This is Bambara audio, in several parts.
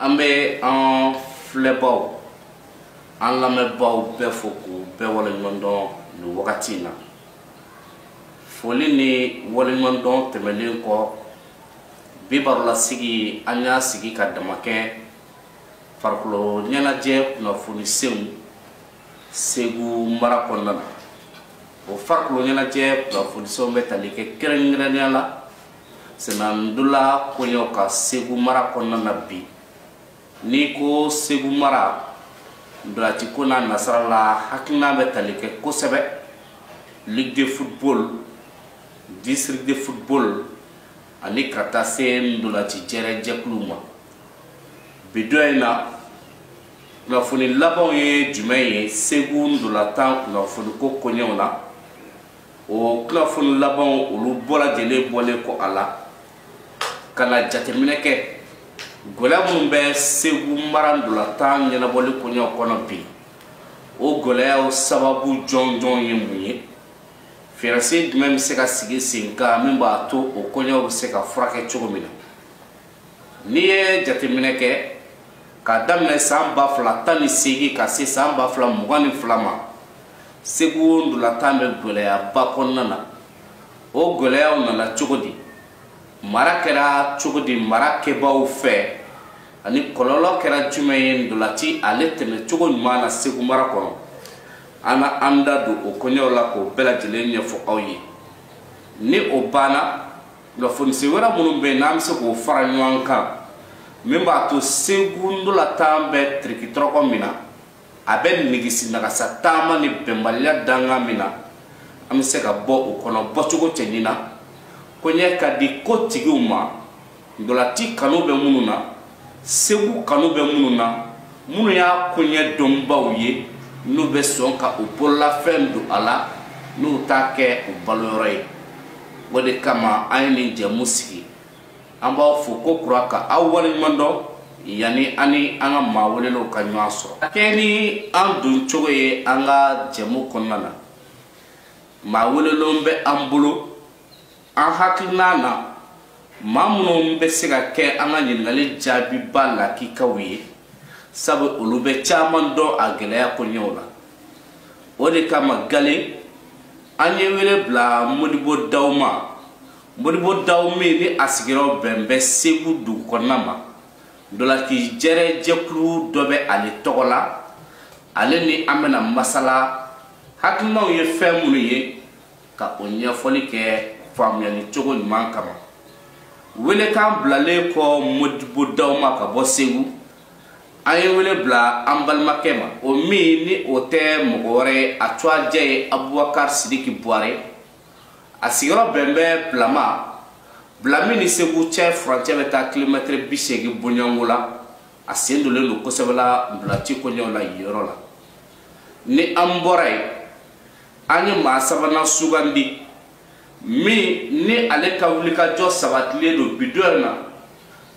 an bɛ an filɛbaw an lamɛnbaw bɛɛ fo k'u bɛɛ waleɲumandɔn nin wagati in na foli ni waleɲumandɔn tɛmɛnen kɔ bi barolasigi an y'a sigi ka dama kɛ farikolo ɲɛnajɛ kunnafoni senw segu mara kɔnɔna na o farikolo ɲɛnajɛ kunnafoni senw bɛ tali kɛ kɛrɛnkɛrɛnnenya la senandola koɲɛw kan segu mara kɔnɔna na bi n'i ko segu mara ndolatiko n'a nasara la hakilina bɛ tali kɛ kosɛbɛ ligue de football district de football ani ka taa se ndolati jɛrɛ jɛkuluw ma bi don in na kunnafoni labanw ye jumɛn ye segu ndolatan kunnafoniko koɲɛw na o kunnafoni labanw olu bɛɛ lajɛlen bɔlen kɔ a la ka na jateminɛ kɛ gɛlɛya minnu bɛ segu mara ndolatan ɲɛnabɔli koɲɛw kɔnɔ bi o gɛlɛyaw sababu jɔnjɔn ye mun ye fɛɛrɛsen jumɛn bɛ se ka sigi sen kan min b'a to o koɲɛw bɛ se ka furakɛ cogo min na n'i ye jateminɛ kɛ k'a daminɛ saan ba fila tan ni seegin ka se saan ba fila mugan ni fila ma segu ndolatan bɛ gwɛlɛyaba kɔnɔna na o gwɛlɛyaw nana cogo di mara kɛra cogo di mara kɛbaaw fɛ ani kɔlɔlɔ kɛra jumɛn ye ndolati ale tɛmɛ cogo ɲuman na segu mara kɔnɔ an na an da don o koɲɛw la k'o bɛɛ lajɛlen ɲɛfɔ aw ye ni o banna kunnafoni sen wɛrɛ minnu bɛ yen n'an bɛ se k'o fara ɲɔgɔn kan min b'a to segu ndolatan bɛ tirikitɔrɔkɔ min na a bɛ nigisi nagasa taama ni bɛnbaliya dankan min na an bɛ se ka bɔ o kɔnɔ bɔcogo cɛɲi na koɲɛ ka di ko tigiw ma ndolati kanu bɛ minnu na segu kanu bɛ minnu na minnu y'a koɲɛ dɔnbaw ye n'u bɛ sɔn ka u bololafɛn don a la n'u t'a kɛ u baloyɔrɔ ye o de kama an ye nin jɛmu sigi an b'aw fo ko kura ka aw waleɲumandɔn yanni an ni an ka maa welelenw ka ɲɔgɔn sɔrɔ a kɛ ni an don cogo ye an ka jɛmu kɔnɔna na maa welelenw bɛ an bolo an hakilina na maa minnu bɛ se ka kɛ an ka ɲininkali jaabibaa lakikaw ye sabu olu bɛ caman dɔn a gɛlɛya koɲɛw la o de kama galen an ye wele bila modibo daw ma modibo daw min ni a sigiyɔrɔ bɛn bɛ segu dugu kɔnɔna ma ndolati jɛrɛ jɛkulu dɔ bɛ ale tɔgɔ la ale ni an bɛna masala hakilinaw ye fɛn minnu ye ka o ɲɛfɔli kɛ faamuyali cogo ɲuman kama welekan bilalen kɔ modibo daw ma ka bɔ segu an ye wele bila an balimakɛ ma o min ni o tɛ mɔgɔ wɛrɛ ye a tuwajɛ ye abubakar sidiki buware a sigiyɔrɔ bɛn bɛ bila ma bila min ni segu cɛ furancɛ bɛ taa kilomɛtiri bi seegin bɔɲɔgɔnko la a sen donnen don kosɛbɛ la ntolaci koɲɛw la yen yɔrɔ la ni an bɔra yen an ye maa sabanan sugandi min ni ale ka wulikajɔ sabatilen don bi don na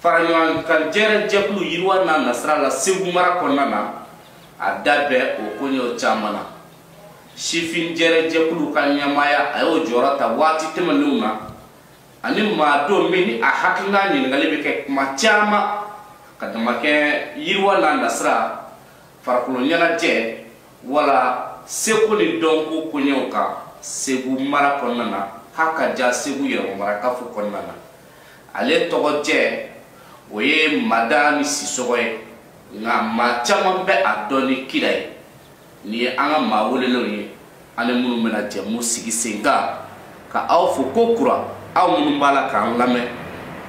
faraɲɔgɔnkan jɛrɛ jɛkulu yiriwa n'a nasira la segu mara kɔnɔna na a da bɛ o koɲɛw caman na sifin jɛrɛ jɛkulu ka ɲɛmaaya a y'o jɔyɔrɔ ta waati tɛmɛnenw na ani maa don min ni a hakilina ɲininkali bɛ kɛ kuma caman ka damakɛ yiriwa n'a nasira farikolo ɲɛnajɛ wala seko ni dɔnko koɲɛw kan segu mara kɔnɔna na ha ka ja segu yɛrɛmamarakafo kɔnɔna na ale tɔgɔ jɛ o ye madani sisɔgɔ ye nka maa caman bɛ a dɔn ni kira ye nin ye an ka maa welelenw ye an ni minnu bɛna jɛmu sigi sen kan ka aw fo ko kura aw minnu b'a la k'an lamɛn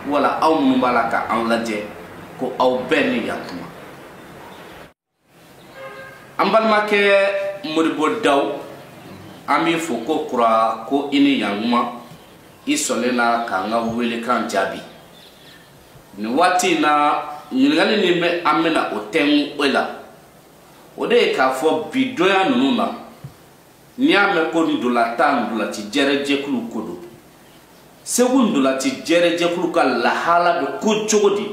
wala aw minnu b'a la k'an lajɛ ko aw bɛɛ ni yantuma an balimakɛ modibo daw an b'i fo ko kura ko i ni yankuma i sɔnnen na k'an ka welekan jaabi nin waati in na ɲininkali min bɛ an bɛna o tɛngu o la o de ye k'a fɔ bi donya ninnu na n'i y'a mɛn ko ntolatan ntolati jɛrɛjɛkulu ko don segu ntolati jɛrɛjɛkulu ka lahala bɛ ko cogo di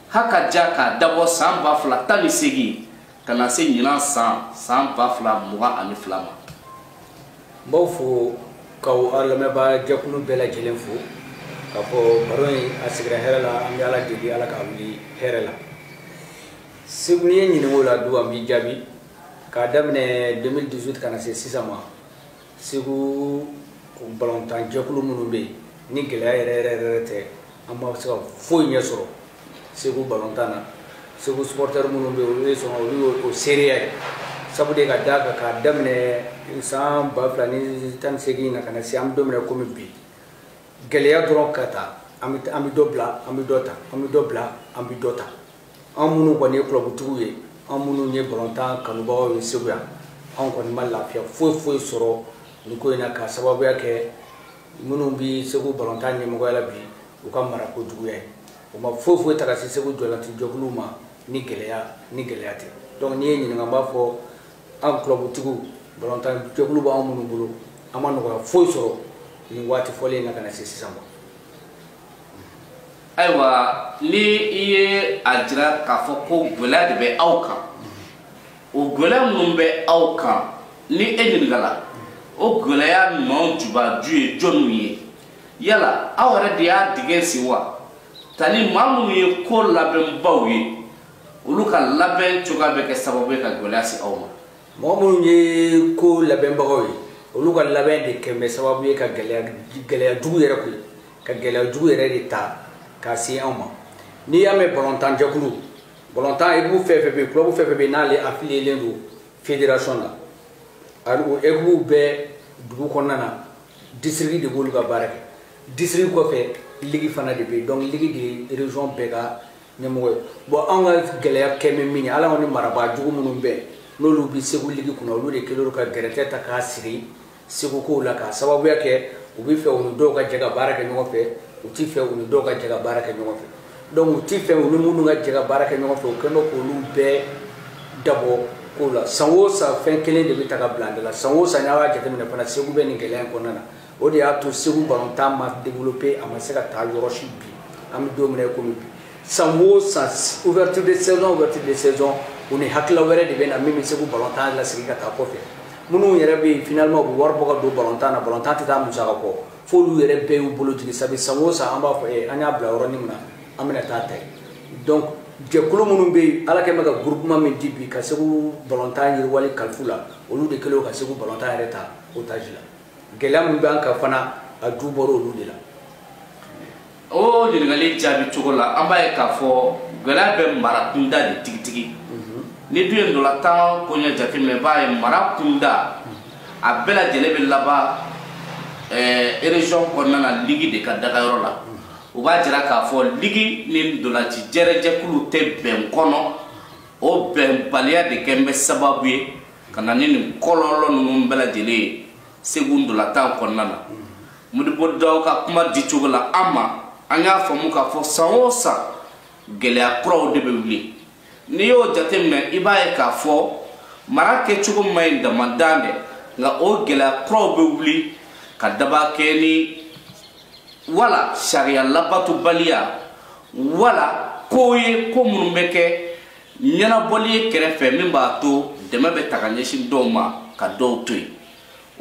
ha ka ja k'a dabɔ san ba fila tan ni seegin ka na se ɲinan san san ba fila mugan ani fila ma n b'aw fo k'aw aw lamɛnbaa jɛkulu bɛɛ lajɛlen fo k'a fɔ baro in a sigira hɛrɛ la an bɛ ala deli ala k'a wuli hɛrɛ la segu n'i ye ɲininko la du an b'i jaabi k'a daminɛ 2018 ka na se sisan ma segu balontan jɛkulu minnu bɛ yen ni gɛlɛya yɛrɛ yɛrɛ yɛrɛ tɛ an ma se ka foyi ɲɛ sɔrɔ segu balontan na segu supportɛri minnu bɛ yen olu ye sɔn olu y'o seereya ye sabu de ka d'a kan k'a daminɛ san ba fila ni tan ni seegin na ka na se an bɛ don min na komi bi gɛlɛya dɔrɔn ka ta an bɛ dɔ bila an bɛ dɔ ta an bɛ dɔ bila an bɛ dɔ ta an minnu kɔni ye kulɔbutigiw ye an minnu ye balontan kanubagaw ye segu yan an kɔni ma lafiya foyi foyi sɔrɔ nin ko in na k'a sababuya kɛ minnu bɛ segu balontan ɲɛmɔgɔya la bi u ka mara ko juguya ye o ma foyi foyi ta ka se segu ndolanci jɛkuluw ma ni gɛlɛya ni gɛlɛya tɛ donc n'i ye n ɲininka n b'a fɔ an kulɔbutigiw balontan jɛkulu b'an minnu bolo an ma nɔgɔya foyi sɔrɔ nin waati fɔlen na ka na se sisan ma ayiwa ni i ye a jira k'a fɔ ko gɛlɛya de bɛ aw kan o gɛlɛya minnu bɛ aw kan ni e ɲininkala o gɛlɛya ninnu jubaju ye jɔniw ye yala aw yɛrɛ de y'a dingɛ sen wa tali maa minnu ye ko labɛnbaw ye olu ka labɛn cogoya bɛ kɛ sababu ye ka gɛlɛya se aw ma mɔgɔ minnu ye ko labɛnbagaw ye olu ka labɛn de kɛ bɛ sababu ye ka gɛlɛya jugu yɛrɛ kun ka gɛlɛya jugu yɛrɛ de ta k'a se anw ma n'i y'a mɛn balontan jɛkulu balontan ekipu fɛn fɛn bɛ yen kulɔbu fɛn fɛn bɛ yen n'ale afiliyelen don federasɔn na ani o ekipuw bɛɛ dugu kɔnɔna na disiriki de b'olu ka baara kɛ disiriki kɔfɛ ligi fana de bɛ yen dɔnku ligi de ye rezɔn bɛɛ ka ɲɛmɔgɔ ye bon anw ka gɛlɛya kɛ bɛ min ye ala ni marabaa jugu minnu bɛn n'olu bɛ segu ligi kunna olu de kɛlen ka gɛrɛtɛ ta k'a siri segu kow la k'a sababuya kɛ u bɛ fɛ u ni dɔw ka jɛ ka baara kɛ ɲɔgɔn fɛ u tɛ fɛ u ni dɔw ka jɛ ka baara kɛ ɲɔgɔn fɛ donc u tɛ fɛ u ni minnu ka jɛ ka baara kɛ ɲɔgɔn fɛ u kɛlen bɛ k'olu bɛɛ dabɔ kow la san o san fɛn kelen de bɛ ta ka bila an da la san o san n'a y'a jateminɛ fana segu bɛ nin gɛlɛya in kɔnɔna na o de y'a to segu balontan ma développé a ma se ka taa yɔrɔ si bi an bɛ don min na komi bi san o san ouverture de saison ouverture de saison u ni hakilila wɛrɛ de bɛ na min bɛ segu balontan lasegin ka taa kɔfɛ minnu yɛrɛ bɛ yen finalement u bɛ wari bɔ ka don balontan na balontan tɛ taa musaka kɔ f'olu yɛrɛ bɛɛ y'u bolo jigin sabu san o san an b'a fɔ ee an y'a bila yɔrɔnin min na an bɛna taa ta yen donc jɛkulu minnu bɛ yen ala kɛlen bɛ ka groupement min di bi ka segu balontan yiriwali kalif'u la olu de kɛlen ka segu balontan yɛrɛ ta otage la gɛlɛya min b'an kan fana a ju bɔra olu de la o ɲininkali jaabi cogo la an b'a ye k'a fɔ gɛlɛya bɛ mara kunda de tigitigi mhm. n'i dun ye ndolantan koɲɛ jateminɛ i b'a ye mara kunda a bɛɛ lajɛlen bɛ laban erezɔn eh, kɔnɔna na ligi de ka dagayɔrɔ la o b'a jira k'a fɔ ligi ni ndolanci jɛrɛjɛkulu tɛ bɛn kɔnɔ o bɛnbaliya de kɛlen bɛ sababu ye ka na ni nin kɔlɔlɔ ninnu bɛɛ lajɛlen ye segu ndolatan kɔnɔna na modibo daw ka kuma di cogo la an ma an y'a faamu k'a fɔ san o san gɛlɛya kuraw de bɛ wuli n'i y'o jateminɛ i b'a ye k'a fɔ mara kɛcogo man ɲi damadan dɛ nka o gɛlɛya kuraw bɛ wuli ka daba kɛ ni wala sariya labatobaliya wala ko ye ko minnu bɛ kɛ ɲɛnabɔli ye kɛrɛfɛ min b'a to dɛmɛ bɛ taa ka ɲɛsin dɔw ma ka dɔw to yen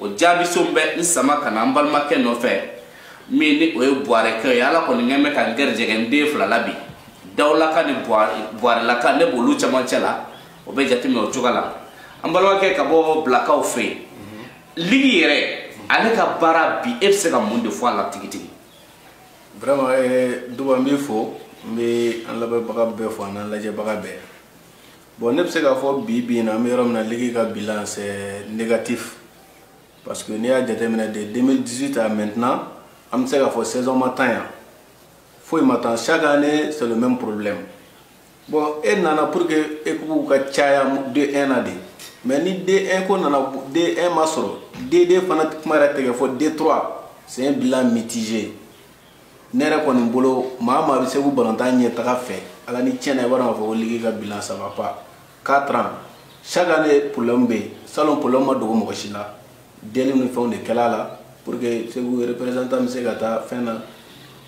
o jaabiso bɛ n sama ka na an balimakɛ nɔfɛ min ni o ye buwarɛkɛ ye ala kɔni kɛ bɛ ka n gɛrijɛgɛ n den fila la bi dawulaka ni buwarɛlaka ne b'olu camancɛ la o bɛ jateminɛ o cogo la an balimakɛ ka bɔ bilakaw fɛ yen ligi yɛrɛ ale ka baara bi e bɛ se ka mun de fɔ a la tigitigi vraiment eh, duba n b'i fo n bɛ an lamɛnbaga bɛɛ fo an'an lajɛbaga bɛɛ bon ne bɛ se k'a fɔ bi bi in na an bɛ yɔrɔ min na ligi ka bilan c'est négatif parce que n'i y'a jateminɛ de 2018 à maintenant an bɛ se k'a fɔ saison ma tan yan foyi ma tan chaque année c'est le même problème bon e nana pour que ekipuw ka caya d1 na de mais ni d1 ko nana d1 ma sɔrɔ d2 fana kuma yɛrɛ tɛ ka fɔ d3 c'est un bilan mitigé ne yɛrɛ kɔni bolo maa maa bɛ segu balontan ɲɛtaga fɛ ala ni tiɲɛ na i b'a dɔn k'a fɔ ko ligi ka bilan ça va pas quatre ans chaque année problème bɛ yen salon problème ma dogo mɔgɔ si la deli ni fɛnw de kɛla a la pour que segu représentant bɛ se ka taa fɛn na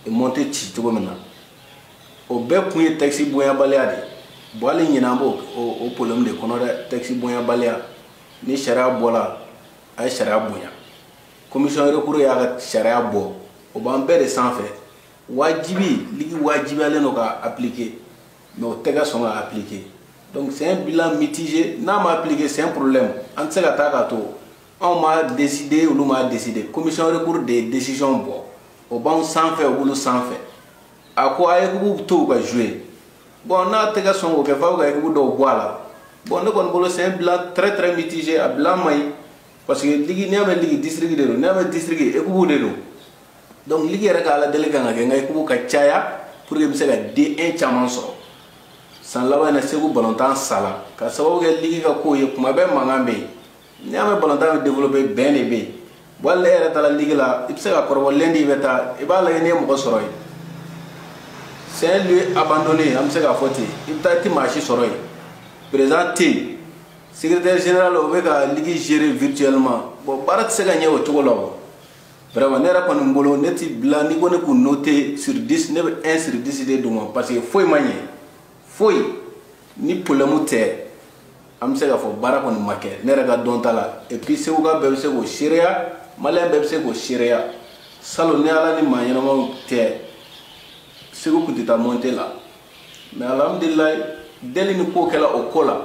montée ci cogo min na o bɛɛ kun ye tɛkisi bonyabaliya de ye bon hali ɲinan an b'o problème de kɔnɔ dɛ tɛkisi bonyabaliya ni sariya bɔla a ye sariya bonya commission recours y'a ka sariya bɔ o b'an bɛɛ de sanfɛ wajibi ligi wajibiyalen don k'a appliquer mais o tɛ ka sɔn k'a appliquer donc c'est un bilan mitigé n'a ma appliquer c'est un problème an tɛ se ka taa k'a to anw m'a décider olu m'a décider commission recours de ye décision bɔ o b'anw sanfɛ o b'olu sanfɛ a ko a ekipu to u ka jouer bon n'a tɛ ka sɔn k'o kɛ f'aw ka ekipu dɔw bɔ a la bon ne kɔni bolo c'est un bilan très très mitigé a bilan man ɲi parce que ligi n'i y'a mɛn ligi district de don n'i y'a mɛn district ekipu de don donc ligi yɛrɛ ka aladeli kan ka kɛ n ka ekipu ka caya pour que n bɛ se ka D1 caman sɔrɔ san laban in na segu balontan sala ka sababu kɛ ligi ka kow ye kuma bɛɛ mankan bɛ yen n'i y'a mɛn balontan bɛ développer bɛn de bɛ yen voilà ne yɛrɛ taara ligi la i bɛ se ka kɔrɔbɔ lundi i bɛ taa i b'a lajɛ n'i ye mɔgɔ sɔrɔ yen c'est un lieu abandonné an bɛ se k'a fɔ ten i bɛ taa i tɛ maa si sɔrɔ yen président tɛ yen secrétaire général o bɛ ka ligi gérer virtuellement bon baara tɛ se ka ɲɛ o cogo la o vraiment ne yɛrɛ kɔni bolo ne ti bila n'i ko ne k'u noter sur 10 ne bɛ 1 sur 10 de d'u ma parce que foyi ma ɲɛ foyi ni problème tɛ an bɛ se k'a fɔ baara kɔni ma kɛ ne yɛrɛ ka dɔn ta la et puis seguka bɛɛ bɛ se k'o seereya maliyɛn bɛɛ bɛ se k'o seereya salon ni ala ni maa ɲɛnamaw tɛ segu tun tɛ taa montée la mais alhamdulilayi delini ko kɛra o ko la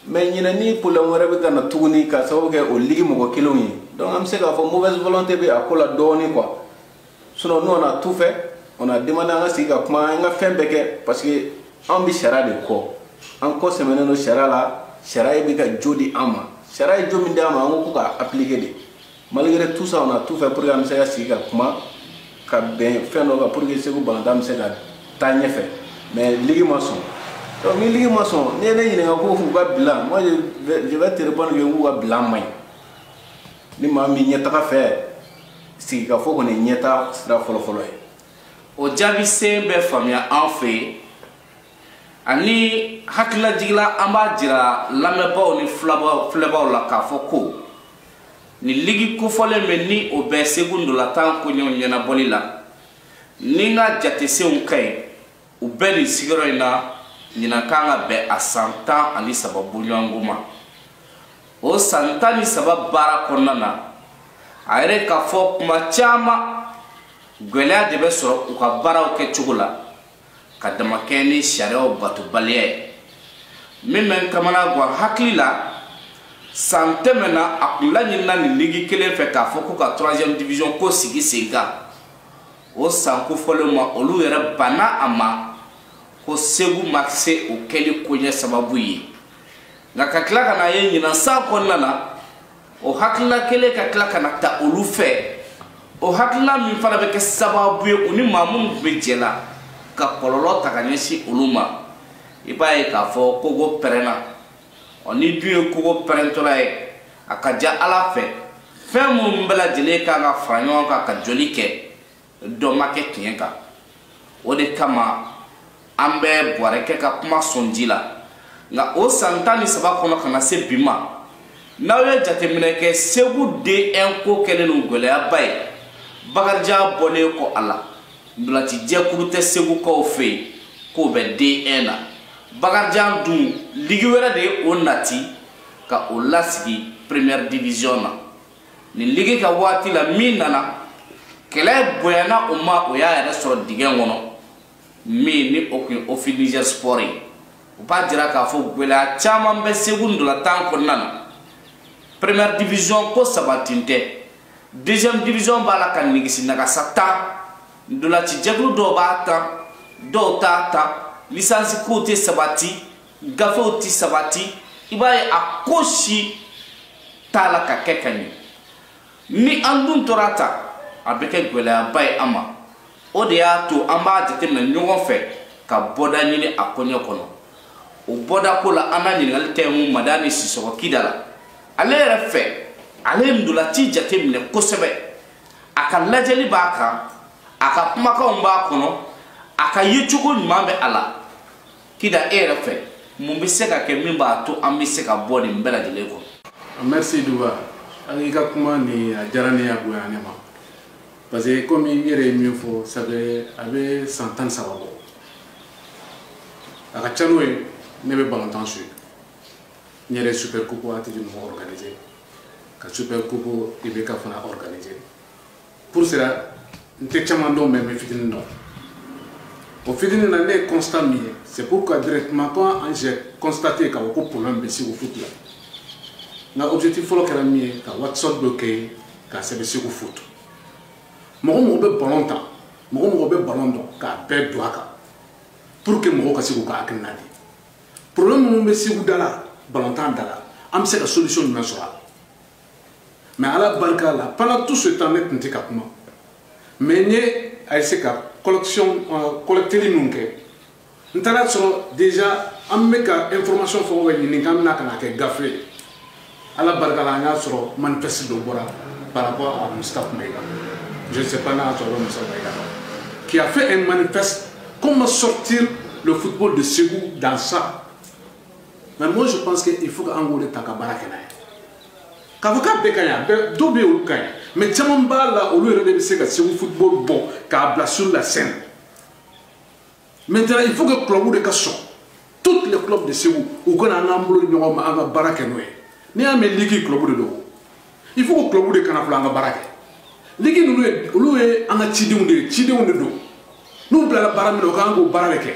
mais ɲinan ni problème wɛrɛ bɛ ka na tuguni ka sababu kɛ o ligi mɔgɔ kelenw ye donc an bɛ se k'a fɔ mauvaise volonté bɛ a ko la dɔɔni quoi sinon nous on a tout fait on a demandé an ka sigi ka kuma an ka fɛn bɛɛ kɛ parce que an bɛ sariya de kɔ an kɔ sɛmɛnen don sariya la sariya bɛ ka jo di an ma sariya ye jo min di an ma an ko ko k'a appliquer de malgré tout ça on a tout fait pour que an bɛ se ka sigi ka kuma ka bɛn fɛn dɔ kan pour que segu balɔntan bɛ se ka taa ɲɛfɛ mais ligi ma sɔn donc ni ligi ma sɔn n'i ye ne ɲininka ko k'u ka bilan moi je vais te répondre que k'u ka bilan man ɲi ni maa min ɲɛtaga fɛ sigikafɔ kɔni ɲɛtaa sira fɔlɔfɔlɔ ye o jaabi sen bɛ faamuya an fɛ yen ani hakililajigila an b'a jira lamɛnbaaw ni filɛbaaw la k'a fɔ ko nin ligi kofɔlen min ni o bɛ segu ndolatan koɲɛw ɲɛnabɔli la ni n ka jatesenw ka ɲi u bɛ nin sigiyɔrɔ in na ɲinan kan ka bɛn a san tan ani saba bɔɲɔgɔn ma o san tan ni saba baara kɔnɔna na a yɛrɛ ka fɔ kuma caman gwɛlɛya de bɛ sɔrɔ u ka baaraw kɛ cogo la ka damakɛɲɛ ni sariyaw batobaliya ye min bɛ n kamana gan hakili la san tɛmɛna a kun laɲinina nin ligi kelen fɛ k'a fɔ ko ka troisième division ko sigi sen kan o san kofɔlen ma olu yɛrɛ banna a ma ko segu ma se o kɛli koɲɛ sababu ye nka ka tila ka na ye ɲinan san kɔnɔna na o hakilila kelen ka tila ka na ta olu fɛ o hakilila min fana bɛ kɛ sababu ye u ni maa minnu tun bɛ jɛ la ka kɔlɔlɔ ta ka ɲɛsin olu ma i b'a ye k'a fɔ kogo pɛrɛnna ɔ n'i dun ye kogo pɛrɛntɔla ye a ka ca a la fɛ fɛn minnu bɛɛ lajɛlen kan ka fara ɲɔgɔn kan ka jɔli kɛ dɔ ma kɛ tiɲɛ kan o de kama an bɛ bɔrɛ kɛ ka kuma sɔn ji la nka o san tan ni saba kɔnɔ ka na se bi ma n'aw ye jateminɛ kɛ segu d un ko kɛlen don gɛlɛyaba ye bakarijan bɔlen kɔ a la ntolacijɛkulu tɛ segukaw fɛ yen k'o bɛ d un na bakarijan dun ligi wɛrɛ de ye o nati ka o lasigi première division na nin ligi ka waati la min nana kɛlɛ bonyana o ma o y'a yɛrɛ sɔrɔ dingɛ kɔnɔ min ni o tun ye office niger sport ye u b'a jira k'a fɔ gɛlɛya caman bɛ segu ndolatan kɔnɔna na première division ko sabatilen tɛ deuxième division b'a la ka nigisi nagasa tan ndolacijɛkulu dɔw b'a tan dɔw t'a tan lisansi kow tɛ sabati gafew ti sabati i b'a ye a ko si t'a la ka kɛ ka ɲɛ ni an dun tora tan a bɛ kɛ gwɛlɛyaba ye an ma o de y'a to an b'a jateminɛ ɲɔgɔn fɛ ka bɔda ɲini a koɲɛ kɔnɔ o bɔda ko la an na ɲininkali tɛmɛ madani sisɔkɔ kida la ale yɛrɛ fɛ ale ye ntolaci jateminɛ kosɛbɛ a ka lajɛli b'a kan a ka kumakanw b'a kɔnɔ a ka yecogo ɲuman bɛ a la kida e yɛrɛ fɛ mun bɛ se ka kɛ min b'a to an bɛ se ka bɔ nin bɛɛ lajɛlen kɔnɔ. merci duba an y'i ka kuma nin a diyara ne ye a bonya ne ma parce que komi n yɛrɛ ye min fɔ ça fait a bɛ san tan ni saba bɔ a ka ca n'o ye ne bɛ balontan suivre n yɛrɛ super coupe ATT mɔgɔ organiser ka super coupe IBK fana organiser pour cela n tɛ caman dɔn mais n bɛ fitinin dɔn o fitinin na ne ye constat min ye c'est pourquoi directement quand j'ai constaté k'a fɔ ko problème bɛ segu foot la n ka objectif fɔlɔ kɛra min ye ka whatsapp dɔ créer k'a sɛbɛn segu foot mɔgɔ o mɔgɔ bɛ ballon tan mɔgɔ o mɔgɔ bɛ ballon dɔn k'a bɛɛ don a kan pour que mɔgɔw ka se k'u ka hakilina di problème minnu bɛ segu da la ballon tan da la an bɛ se ka solution jumɛn sɔrɔ a la mais ala barika la pendant tout ce temps ne tun tɛ ka kuma mais n ye a essayer ka collection euh, collecteli ninnu kɛ n taara a sɔrɔ déjà an bɛ ka information fɛn o fɛn ɲini k'an bɛna ka n'a kɛ gafe ye ala barika la an y'a sɔrɔ manifeste dɔ bɔra par rapport à Moustapha Maïga je ne sais pas n'a sɔrɔ Moustapha Maïga qui a fait un manifeste comment sortir le football de Ségou dans ça mais moi je pense que il faut k'an k'o de ta ka baara kɛ n'a ye k'a fɔ k'a bɛɛ ka ɲi a bɛɛ dɔw bɛ yen olu ka ɲi mais caman b'a la olu yɛrɛ de bɛ se ka segu football bɔ k'a bila sur la scène maintenant il faut que club de ka sɔn toutes les clubs de segu u ka na an k'an bolo di ɲɔgɔn ma an ka baara kɛ n'o ye n'i y'a mɛn ligue club de don il faut que club de ka na fɔlɔ an ka baara kɛ ligi ninnu ye olu ye an ka cidenw de ye cidenw de don n'u bilala baara min na u ka kan k'o baara de kɛ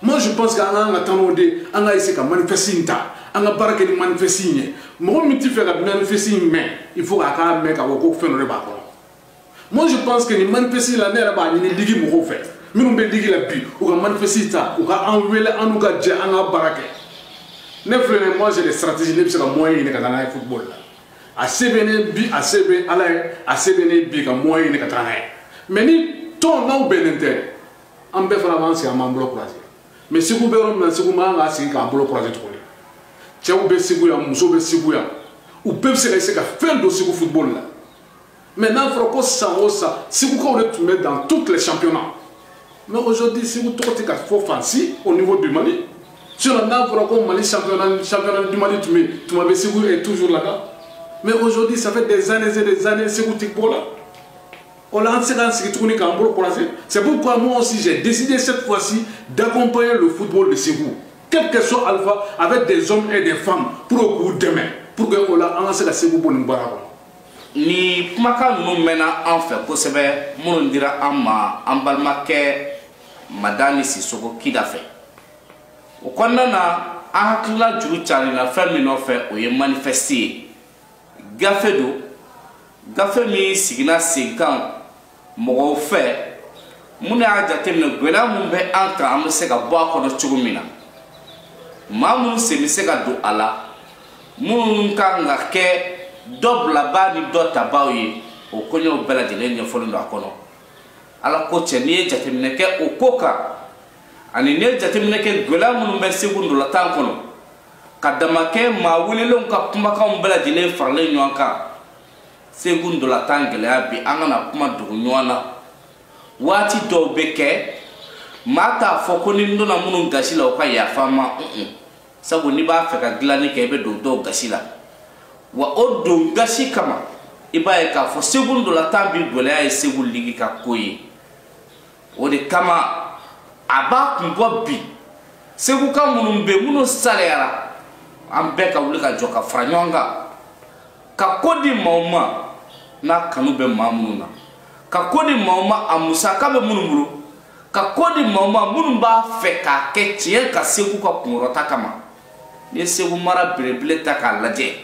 moi je pense que an ka kan ka taa n'o de an ka essayer ka manifeste in ta an ka baara kɛ ni manifeste in ye mɔgɔ min t'a fɛ ka manifeste in mɛn il faut k'a k'a mɛn k'a fɔ ko fɛn dɔ de b'a kɔnɔ moi je pense que nin manifeste la ne yɛrɛ b'a ɲini ligi mɔgɔw fɛ minnu bɛ ligi la bi u ka manifeste ta u ka an wele an n'u ka jɛ an ka baara kɛ ne filɛ nin moi j'ai des stratégies ne bɛ se ka moyen ɲini ka taa n'a ye football la a se bɛ n ye bi a se bɛ ala ye a se bɛ n ye bi ka moyen ɲini ka taa n'a ye mais ni tɔn ninnu bɛnnen tɛ an bɛɛ fana b'an sigi an b'an bolo croiser mais segu bɛ yɔrɔ min na segu man kan k'a sigi k'a bolo croiser tuguni cɛw bɛ segu yan musow bɛ segu yan u bɛɛ bɛ se ka se ka fɛn don segu football la mais n'a fɔra ko san o san segukaw de tun bɛ dans toutes les championnats mais aujourd'hui segu tɔgɔ tɛ ka fɔ fan si au niveau du mali sinon n'a fɔra ko mali championnat championnat du mali tun bɛ tuma bɛɛ segu est toujours là bas mais aujourd'hui ça fait des années et des années segu tɛ bɔ la o la an tɛ se k'an sigi tuguni k'an bolo kɔlɔsi c'est pourquoi moi aussi j'ai décidé cette fois-ci d'accompagner le football de segu quel que soit alpha avec des hommes et des femmes pour k'u dɛmɛ pour que o la an ka se ka segu bɔ nin baara kɔnɔ nin kumakan ninnu mɛnna an fɛ kosɛbɛ minnu dira an ma an balimakɛ madani sisoko kida fɛ o kɔnɔna na an hakilila juru carila fɛn min nɔfɛ o ye manifɛsti ye gafe don gafe min sigila senkan mɔgɔw fɛ minnu y'a jateminɛ gwɛlɛya min bɛ an kan an bɛ se ka bɔ a kɔnɔ cogo min na maa minnu sen bɛ se ka don a la minnu kan ka kɛ dɔ bilabaa ni dɔ tabaaw ye o koɲɛw bɛɛ lajɛlen ɲɛfɔlen don a kɔnɔ ala ko cɛ n'i ye jateminɛ kɛ o ko kan ani n'i ye jateminɛ kɛ gwɛlɛya minnu bɛ segu ndolatan kɔnɔ ka damakɛ maa welelenw ka kumakanw bɛɛ lajɛlen faralen ɲɔgɔn kan segu ndolatan gɛlɛya bi an kana kuma dogo ɲɔgɔn na waati dɔw bɛ kɛ maa t'a fɔ ko ni n donna minnu gasi la u ka yafa n ma sabu n'i b'a fɛ ka dilanni kɛ i bɛ don dɔw gasi la wa o don gasi kama i b'a ye k'a fɔ segu ndolatan bi gɛlɛya ye segu ligi ka ko ye o de kama a b'a kun bɔ bi seguka minnu bɛ minnu salayara an bɛɛ ka wuli ka jɔ ka fara ɲɔgɔn kan ka ko di maaw ma n'a kanu bɛ maa minnu na ka ko di maaw ma a musaka bɛ minnu bolo ka ko di maaw ma minnu b'a fɛ k'a kɛ tiɲɛ kan segu ka kunkɔrɔta kama n'i ye segu mara belebele ta k'a lajɛ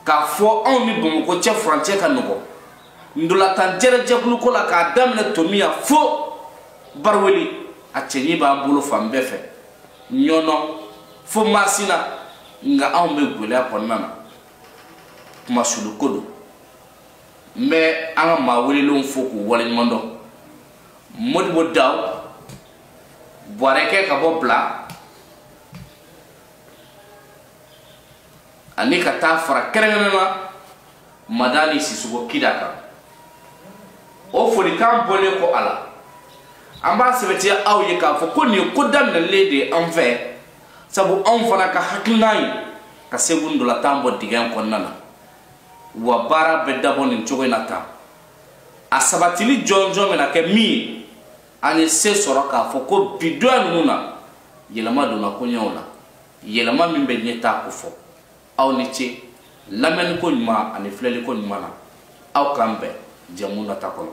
k'a fɔ anw ni bamakɔ cɛ furancɛ ka nɔgɔn ndolatan jɛrɛjɛkuluko la k'a daminɛ tomiɲan fo bariweli a cɛɲi b'an bolo fan bɛɛ fɛ ɲɔnɔ fo masina nka anw bɛ gɛlɛya kɔnɔna na kumasuluko don n bɛ an ka maa welelenw fo k'u waleɲuman dɔn modibo daw buwarekɛ ka bɔ bila ani ka taa fara kɛrɛnkɛrɛnnen na madani sisoko kida kan o folikan bɔlen kɔ a la an b'a sɛbɛtiya aw ye k'a fɔ ko nin ye ko daminɛlen de ye an fɛ sabu anw fana ka hakilinan ye ka segu ndolatan bɔ dingɛ kɔnɔna na wa baara bɛ dabɔ nin cogo in na tan a sabatili jɔnjɔn bɛna kɛ min ye an ye se sɔrɔ k'a fɔ ko bi donya ninnu na yɛlɛma donna koɲɛw la yɛlɛma min bɛ ɲɛtaa kofɔ aw ni ce lamɛnni ko ɲuman ani filɛli ko ɲuman na aw k'an bɛn jɛmu nata kɔnɔ